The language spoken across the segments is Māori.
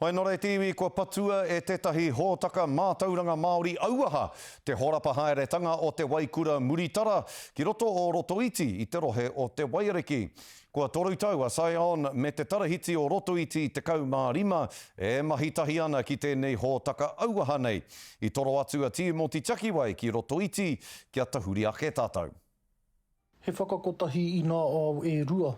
Whai nō reiti iwi kua patua e tētahi hōtaka mātauranga Māori auaha te horapa haeretanga o Te Waikura Muritara ki roto o Rotoiti i te rohe o Te Waiariki. Kua toru tau a Sion me Te Tarahiti o Rotoiti 15 e mahi tahi ana ki tēnei hōtaka auaha nei. I toro atu a Tīmoti Takiwai ki Rotoiti kia tahuri ake tātou. He whakakotahi i ngā ao e rua.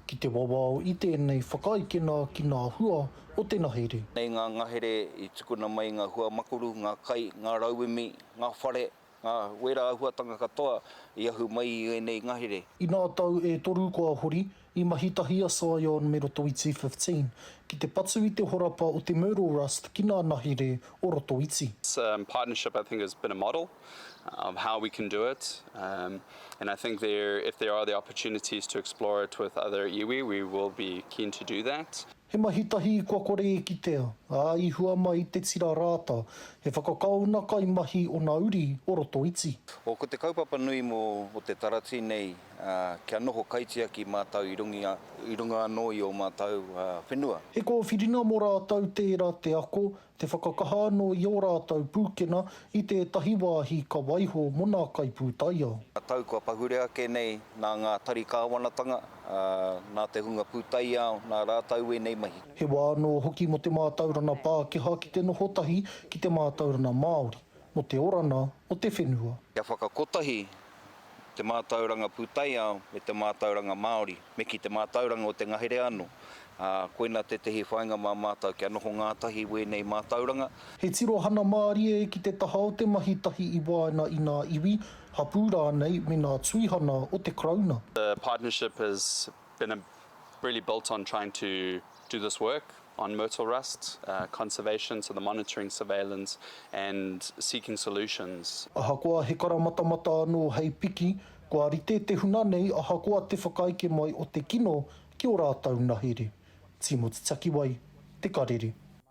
Ki te wawao i tēnei whakaekena ki ngā hua o te ngahere. Nei ngā ngahere i tukuna mai ngā hua makuru, ngā kai, ngā rauemi, ngā whare, ngā wērā āhuatanga katoa i ahu mai i ēnei ngahere. I ngā tau e toru kua hori, I mahi tahi a Scion me Roto Iti 15 ki te patu i te horapa o te Myrtle Rust ki ngā nahere o Roto Iti. This partnership I think has been a model of how we can do it and I think there if there are the opportunities to explore it with other iwi we will be keen to do that. He mahi tahi kua kore e kitea, ā, i hua mai te tira rāta, he whakakaona kai mahi ona uri o roto iti. O ko te kaupapa nui mo o te taratī nei, ā, kia noho kaitiaki mātau i rungi a, i runga anō i ō mātau, ā, whenua. He kōwhiringa mo rātau tēra te ako, Te whakakaha anō i ō rātou pūkena i tētahi wāhi ka waiho mō ngā kaipūtaiao. Tau kua pahure ake nei nā ngā tari kāwanatanga, nā te hunga pūtaiao, nā rātou ēnei mahi. He wā anō hoki mō te mātauranga Pākehā ki te noho tahi ki te mātauranga Māori, mō te oranga o te whenua. Kia whakakotahi te mātauranga pūtaiao me te mātauranga Māori, me ki te mātauranga o te ngahere anō. Ā, koina tētehi whāinga mā mātou kia noho ngātahi i wēnei mātauranga. He tirohana mārie ki te taha o te mahi tahi i waenga i ngā iwi, hapū rānei me ngā tuihana o te Karauna. The partnership has been really built on trying to do this work on myrtle rust conservation to the monitoring surveillance and seeking solutions. Ahakoa he karamatamata anō hei piki, kua rite te huna nei ahakoa te whakaeke mai o te kino ki o rātou nahere. Timoti Takiwai, Te Karere.